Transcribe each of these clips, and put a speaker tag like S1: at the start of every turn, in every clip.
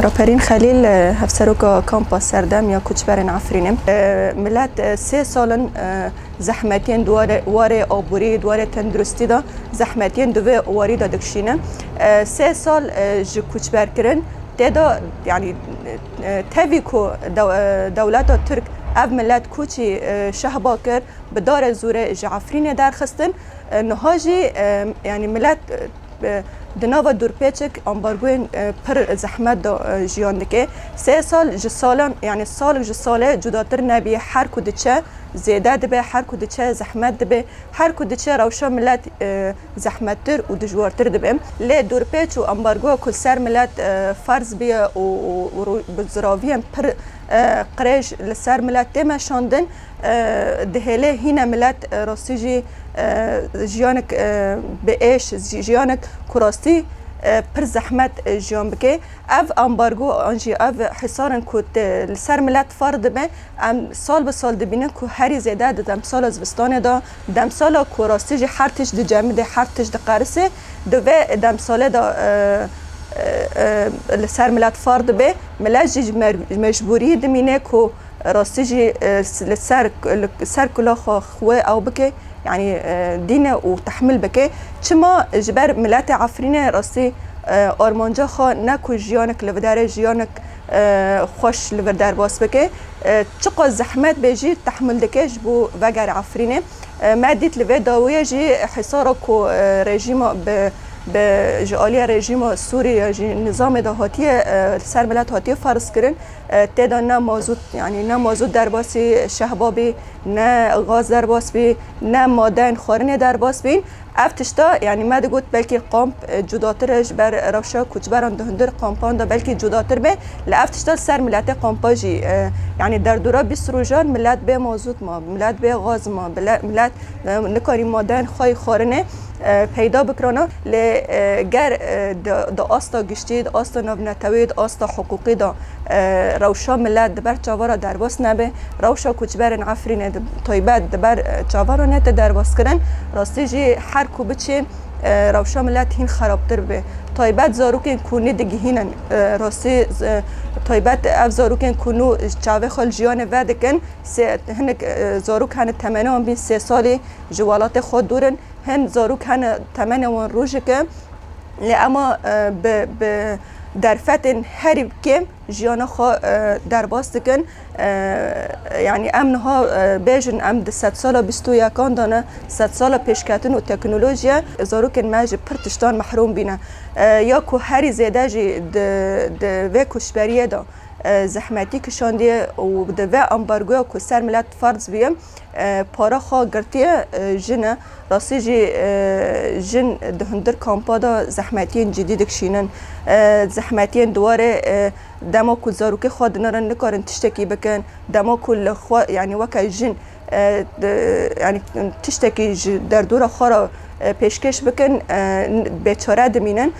S1: Raperîn Xelîl hevseroka kampa serdem ya koçberên Efrînê milet sê salin zehmetiyên warê aborî warê tenduristî de zehmetiyên di vê warî de dikişîne sê sal ji koçberkirin tê de yanî Tevî ku dewleta Tirk ev milet koçî Şehba kir, bi darê zûrê ji Efrînê derxistin, niha jî yanî milet di nava dûrpêçik ambargoyên pir zehmet de jiyan dike. Sê sal ji sala yanî sal ji salê cudatir nebî. Her ku diçe zêde dibe, her ku diçe zehmet dibe, her ku diçe rewşa milet zehmettir û dijwartir dibe. Lê dorpêç û ambargoya ku li ser milet ferz bûye û bi ziraviyên pir qirêj li ser milet tê meşandin, dihêle hîne milet rastî jî jiyanek bi êş, jiyanek ku rastî pir zehmet jiyan bike. Ev ambargo an jî ev hîsarin ku li ser milet ferz dibe, em sal bi sal dibînin ku herî zêde di demsala zivistanê de, Demsala ku rastî jî her tişt dicemidê, her tişt diqerisê, di vê demsalê de li ser milet far dibe. Milet jî ji mecbûrî dimîne ku rastî jî li ser li ser kulaxa xwe ew bike, yanî dîne û tehmil bike. Çima? Ji ber miletê Efrînê rastî armanca xwe ne ku jiyanek li bi derê jiyanek Xweş li vir derbas bike. Çiqas zehmet bê jî tehmûl dike ji bo vegere Efrînê. Me dît li vê dawiyê jî hesara ku rejîma bi bi ji aliya rejîma Sûrî ya jî nizamê de hatiye li ser milet hatiye ferz kirin tê de ne mazût yanî ne mazût derbas bî, şehba bî, ne gaz derbas bî, ne madeyên xwarinê derbas bîn. Ev tişta yanî me digot belkî kamp cudatir e ji ber rewşa koçberan di hundir kampan de belkî cudatir be li ev tişta li ser miletê kampa jî yanî derdora bîst rojan milet bê mazût ma milet bê gaz ma milet nikarî madeyên xwe yê xwarinê peyda bikirana lê ger di asta giştî di asta navnetewê di asta hiqûqî de Rewşa milet di ber çavara derbas nebe, rewşa koçberên Efrînê bi taybet di ber çavara nete derbaskirin. Rastî jî her ku biçê rewşa milet hîn xerabtir bê. Taybet zarokên ku nêdigihînin rastî taybet ev zarokên ku nû ji çavê xwe li jiyanê vedikin hinek zarok hene temenê wan bîn sê salî ji welatê xwe dûr in. Hin zarok hene temenê wan rojik e lê ema bi Derfetên herî kêm jiyana xwe derbas dikin. Yanî em niha bêjin em di sedsala bîst û yekan de ne, sedsala pêşketin û teknolojiye, zarokên me ji pir tiştan mehrûm bîne. Ya ku herî zêde jî di vê koçberiyê de zehmetî kişandiye û di vê ambargoya ku ser milet ferz bûye, para xwe girtiye jin e. Rastî jî jin di hundir kampa de zehmetiyên cidî dikişînin. Zehmetiyên di warê dema ku zarokê xwe dinirin nikarin tiştekî bikin, dema ku li xwe yanî weke jin yanî tiştekî ji derdora xwe re pêşkêş bikin bêçare dimînin.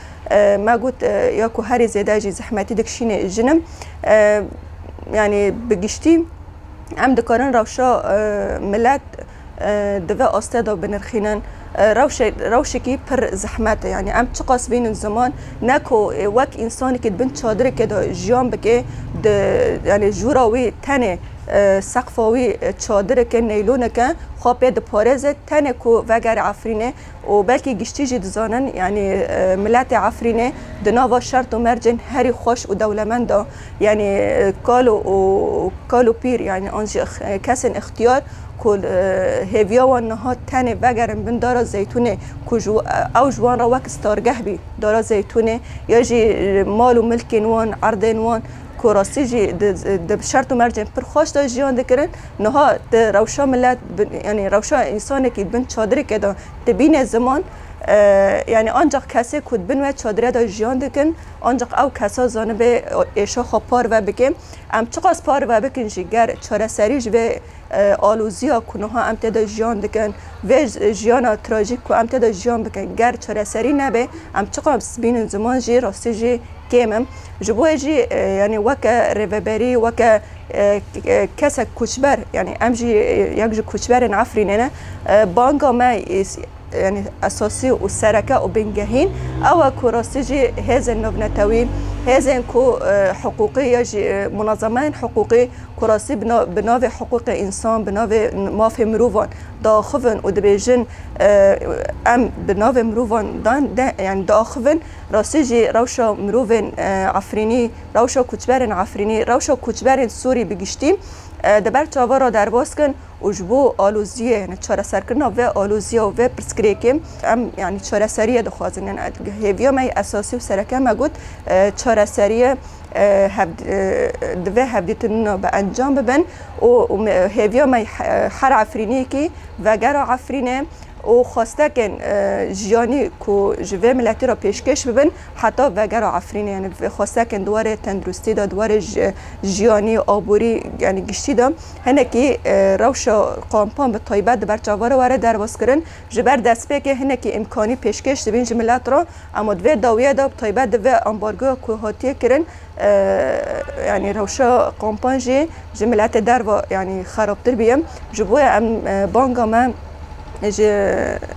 S1: Me got ya ku herî zêde jî zehmetî dikişînê jin im. Yanî bi giştî. Em dikarin rewşa milet di vê astê de binirxînin. Rewşekî pir zehmet e. Yanî em çiqas bînin ziman ne ku wek însanekî di bin çadirekê de jiyan bike di yanî jûra wî tenê seqfa wî çadireke neyloneke xwe pê diparêze tenê ku vegere Efrînê û belkî giştî jî dizanin yanî miletê Efrînê di nava şert û mercên herî xweş û dewlemend de yanî kal û kal û pîr yanî an jî kesên îxtiyar ku hêviya wan niha tenê vegerin bin Dara Zeytûnê ku ji ew ji wan re wek stargeh bî Dara Zeytûnê ya jî mal û milkên wan, erdên wan ku rastî jî di şert û mercên pir xweş de jiyan dikirin. Niha tu rewşa milet yanî rewşa însanekî bin çadirêke de dibîne ziman yanî ancaq kesê ku di bin we çadire de jiyan dikin ancaq ew kesa zanibe êşa xwe parve bike. Em çiqas parve bikin jî ger çareserî ji vê alozîya ku niha em tê de jiyan dikin, vê jiyana trajîk ku em tê de jiyan bikin ger çareserî nebe em çiqas bînin ziman jî rastî jî kêm in. Ji bo wê jî yanî weke rêveberî weke. Kesek koçber yanî em jî yek ji koçberên Efrînê ne. Banga me yanî esasî û sereke û bingehîn ew e ku rastî jî hêzên navnetewî, hêzên ku hiqûqî ya jî munazemeyên hiqûqî ku rastî bi navê hiqûqê însan, bi navê mafê mirovan diaxivin û dibêjin em bi navê mirovan yanî diaxivin rastî jî rewşa mirovên Efrînî, rewşa koçberên Efrînî, rewşa koçberên Sûrî bi giştî di ber çavan re derbas kin û ji bo aloziyê yanî çareserkirina vê aloziya û vê pirsgirêkê em yanî çareseriyê dixwazin. Yanî hêviya me yê esasî û sereke me got çareseriyê hev divê hevdîtinina bi encam bibin û hêviya me her Efrîniyekî vegera Efrînê û xwestekên jiyanî ku ji vê miletî re pêşkêş bibin, Heta veger a Efrînê yanî xosekên di warê tenduristî de, di warê jiyanî, aborî yanî giştî de hinekî rewşa kampan bi taybet di ber çavan re were derbazkirin. Ji ber destpêkê hinekî îmkanî pêşkêş dibîn ji milet re ema di vê dawiya de bi taybet di vê ambargoya ku hatiye kirin yanî rewşa kampan jî ji miletê derve yanî xerabtir biye. Ji bo ya em banga me ji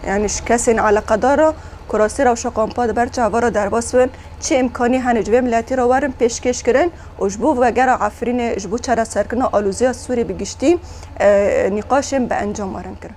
S1: yanî ji kesên eleqedar re. Kurasî rewşa kompa di ber çavan re derbas bin, çi îmkanî hene ji vê miletî re werin pêşkêş kirin û ji bo vegera Efrînê ji bo çareserkirina alozîya Sûrî bi giştî nîqaşên bi encam werin kirin.